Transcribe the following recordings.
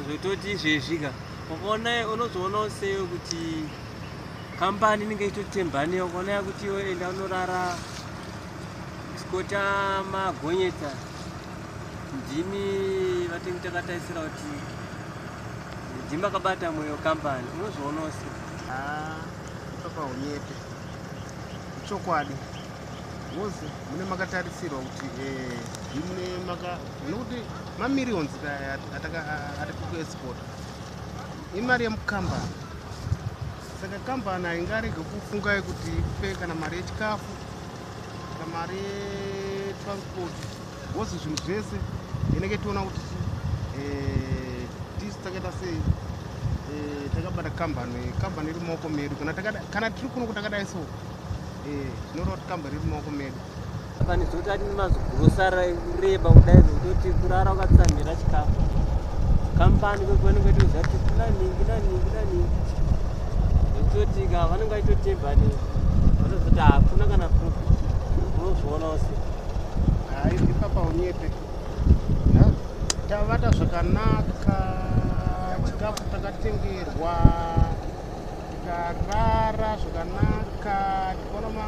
zvototi izvezvi ka ukaona unozoonawo seyo kuti kambani inenge ichitotembaneyo ukaona yakuti iwe enda unorara Kota magonyeta ndimi vatengi takataisira kuti ndimi makabata moyo kambani unozviona ose takaonyete ah, ichokwadi bhozi mune makatarisirwa kuti eh, mune maka nekuti mamirions atiri kuexpota imari yemukambani saka kambani haingarege kufungai kuti ipe kana mari yechikafu kana mari yetransport wose zvinhu zvese inenge tiona kuti eh, tisu takaita sei eh, takabata kambani kambani iri mumaoko medu kana tiri kuno kutakadai so eh, tinoreva kuti kambani iri mumaoko medu apa ndizoti ati nemazigurosara kureba kudai zvekutoti kurara ukatsamhira chikafu kampani kwekuvanenge vaitoziva kuti kuna ningi na ningi na ningi zvekutoti ka vanenge vaitotemba ne vanozoti hakuna kana proof unozviona use hayi ndipapa unyepe tavata zvakanaka chikafu takatengerwa tikarara zvakanaka tikaona ma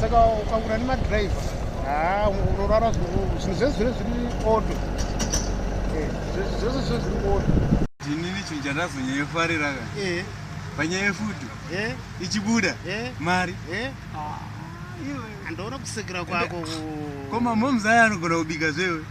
saka ukangura nemadriver haa unorara zvinhu zvese zvine zviri oto eh, zvese zvine zviri oto ndinini chinhu chandazonyayofarira ka eh. panyaya yefuti eh. ichibuda mari ah, andoona kusekera kwako ko mamoms aya anogona kubika zvewe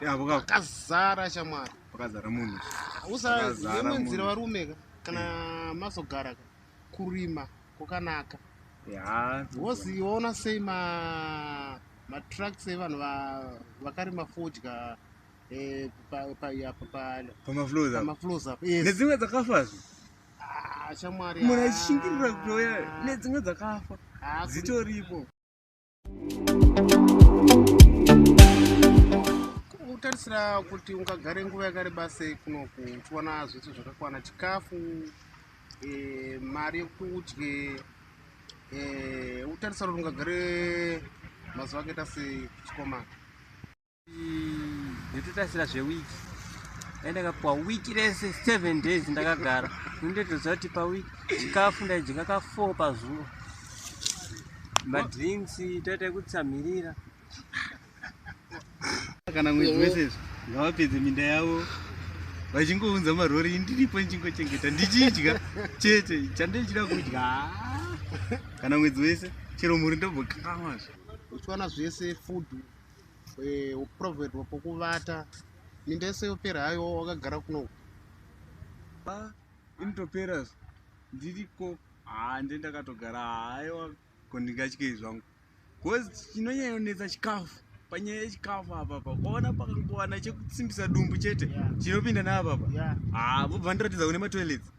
pakazara shamwari pakazara munhu usaemanzira varume ka kana mazogara ka kurima kwakanaka wozi waona sei ma matracks evanhu vakarima fodya eh, pamaflows apo nedzimwe dzakafa zvi ah, shamwari munhu achishingirira kutouya nedzimwe dzakafa ah, dzitoripo kuitira kuti ungagare nguva yakareba sei kunoku uchiwana zvese zvakakwana chikafu e, mari yekuti udye e, eh, utarisa kuti ungagare mazuva akaita sei chikomana ndototarisira zvewiki dai ndakapiwa wiki rese seven days ndakagara ndotoziva kuti pawiki chikafu ndaidzinga ka four pazuva madrinks toita ekutsamhirira kana mwedzi wese izvo ngavapedze minda yavo vachingounza marori indiripo ndichingochengeta ndichidya chete chandichida kudya kana mwedzi wese chero mhuri ndobhokamazvo uchiwana zvese food eh, uprovedwa pokuvata minda yese yopera haiwa wakagara kuno ah, initopera ndiriko haa nde ndakatogara haiwa ko ndingatyei zvangu bcause chinonyanyonetsa chikafu panyaya yechikafu apapa ukaona pakangowana chekutsimbisa dumbu chete chinopinda naapapa haa vobva ndiratidza kune matoilets